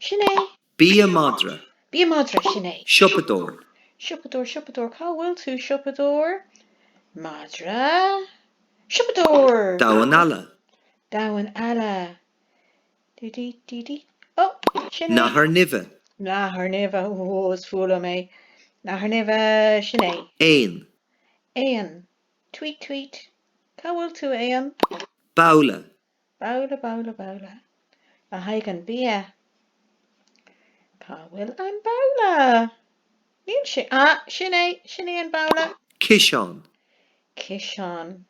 Sin é. Bia madra. Bia madra. Sin é. Siopadóir. Siopadóir, siopadóir, cá bhfuil tú? Siopadóir. Madra. Siopadóir. Damhán alla. Damhán alla. Dí dí dí dí. Ó! Sin é. Nathair nimhe. Nathair nimhe. Ó, is fuath liom é. Nathair nimhe. Sin é. Éan. Éan. Tweet, tweet. Cá bhfuil tú, éan? Babhla. Babhla, babhla, babhla, le haghaidh an bia. Cá bhfuil an babhla? Níl sé, ah, sin é, sin é an babhla. Ciseán. Ciseán.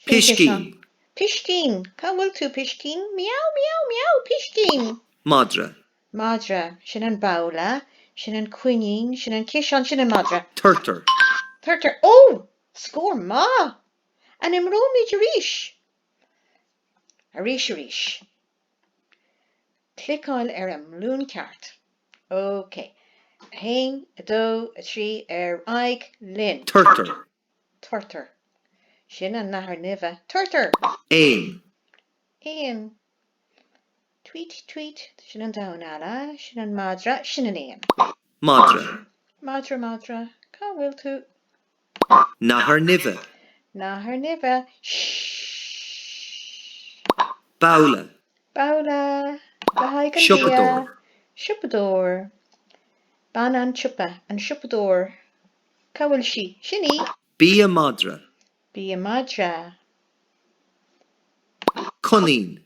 Piscín. Piscín. Cá bhfuil tú, piscín? Miaow, miaow, miaow, piscín. Madra. Madra. Sin an babhla, sin an coinín, sin an ciseán, sin an madra. Turtar. Turtar. Oh! Scór maith! An imreoimid arís? Arís arís. Cliceáil ar an mbalún ceart. OK. 1, 2, 3, ar aghaidh linn! turtar. turtar. Sin an nathair nimhe, turtar! éan. éan. tweet tweet. Sin an damhán alla, sin an madra, sin an éan. madra. madra madra. Cá bhfuil tú? nathair nimhe. nathair nimhe, shh. babhla. babhla le haghaidh an bhia. siopadóir. siopadóir. bean an tsiopa, an siopadóir, cá bhfuil sí? sin í! bia madra. bia madra. coinín.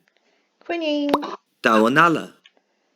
coinín. damhán alla.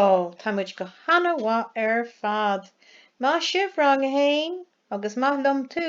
Ó, tá muid go hana-mhaith ar fad! Maith sibh, Rang a hAon, agus maith liom tú!